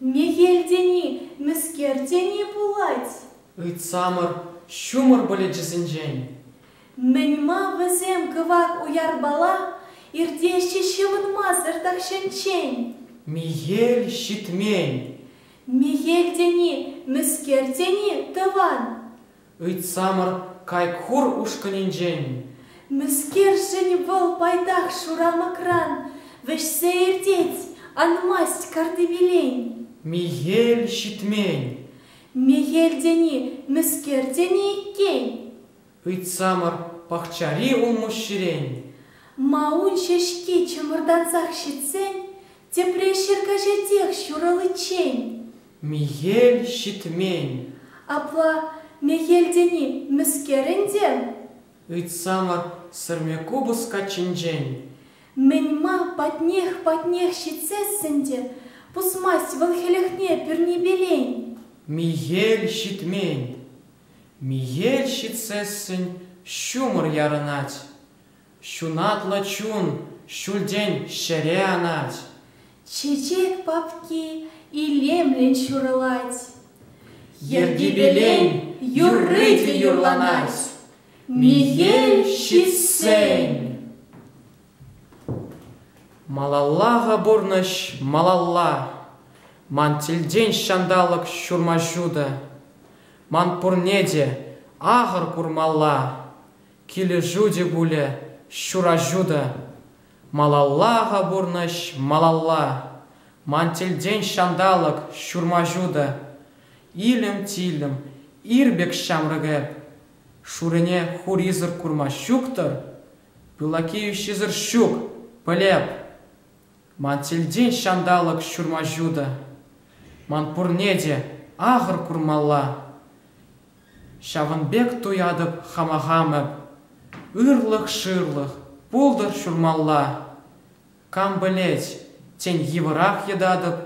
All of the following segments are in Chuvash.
Мехел тени, мӗскер тени пулать? Ыйтсамӑр ҫумӑр пылӗчӗсенчен. Мӗн-ма вӗсем кӑвак уярпала иртеҫҫӗ ҫӑмӑнмасӑр тахҫанччен? Мехел ҫитмен. Мехел тени, мӗскер тени тӑван? Ыйтсамӑр Кайкхур ушкӑнӗнчен. Мӗскершӗн вӑл пайтах шурамӑкран вӗҫсе иртет, анмасть картипелен? Мехел ҫитмен. Мехел тени мӗскер тени иккен? Ыйтсамӑр пахчари улмуҫҫирен. Маун ҫеҫки чӑмӑртансах ҫитсен Тепре ҫӗр каҫатех ҫураличчен. Мехел ҫитмен. Апла мехел тени мӗскер ӗнтӗ? Ыйтсамӑр сӗрме купӑс каччинчен. Мӗн-ма патнех-патнех ҫитсес ӗнтӗ? Пусмасть вӑл хӗлӗхне пӳрнипелен. Мехел ҫитмен. Мехел ҫитсессӗн ҫумӑр ярӑнать. Ҫунатлӑ чун ҫӳлтен ҫӗре анать. Чечек папки илемлӗн ҫурӑлать. Йӗркипелен юрри те юрланать. Мехел ҫитсен. Малаллаха пурнӑҫ малалла. Ман тӗлтен ҫанталӑк ҫурма ҫутӑ. Ман пурне те ахӑр курмалла. Килӗшӳ те пулӗ, ҫураҫу та. Малалла-ха пурнӑҫ, малалла. Ман тӗлтен ҫанталӑк, ҫурмаҫу та. Илӗм-тилӗм, ир пек ҫамрӑк эп. Шурине хурисӑр курма ҫук-тӑр? Пылакеющисӗр ҫук, пӗлеп. Ман тӗлтен ҫанталӑк, ҫурмаҫу та. Ман пурне те ахӑр курмалла. Ҫавӑн пек туятӑп хама хам эп. Ырлӑх-шырлӑх пултӑр ҫурмалла. Кам пӗлет, тен йывӑрах йӑтатӑп.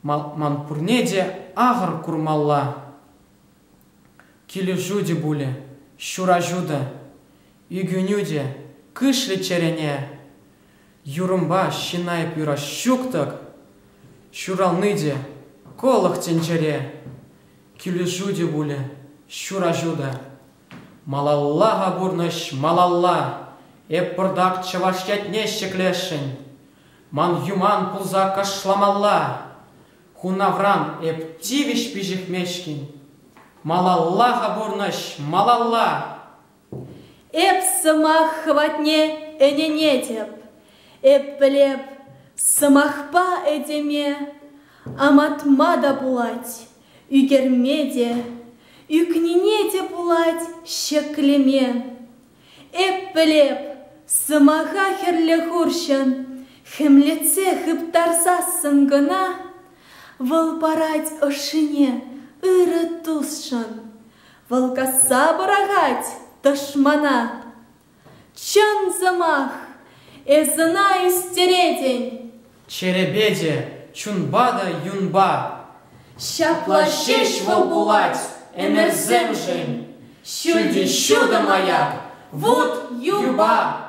Ман пурне те ахӑр курмалла. Килӗшӳ те пулӗ, ҫураҫу та, ӳкӗнӳ те кӗшлӗ чӗрене. Юрӑмпа ҫына эп юрас ҫук-тӑк, ҫурални те кӑлӑх тӗнчере. Килӗшӳ те пулӗ, ҫураҫу та. Малалла-ха пурнӑҫ, малалла! Эп пӑртак чӑваш ятне ҫӗклесшӗн. Ман юман пулса кӑшламалла. Хунавран эп тивӗҫ пиҫӗхмешкӗн. Малалла-ха пурнӑҫ, малалла! Эп сӑмах хӑватне ӗненетӗп, эп пӗлеп, сӑмахпа этеме амантма та пулать, ӳкерме те, ӳкнине те пулать ҫӗклеме. Эп пӗлеп, сӑмаха хӗрлӗ хурҫӑн хӗмлетсе хыптарсассӑн кӑна вӑл парать ӑшшине ырӑ тусшӑн. Вӑл касса пӑрахать тӑшмана. Чӑн сӑмах, эс ӑна истеретӗн. Черепече, чунпа та юнпа. Ҫапла ҫеҫ вӑл пулать ӗмӗрсемшӗн. Ҫӳлти ҫутӑ маяк, вут юпа.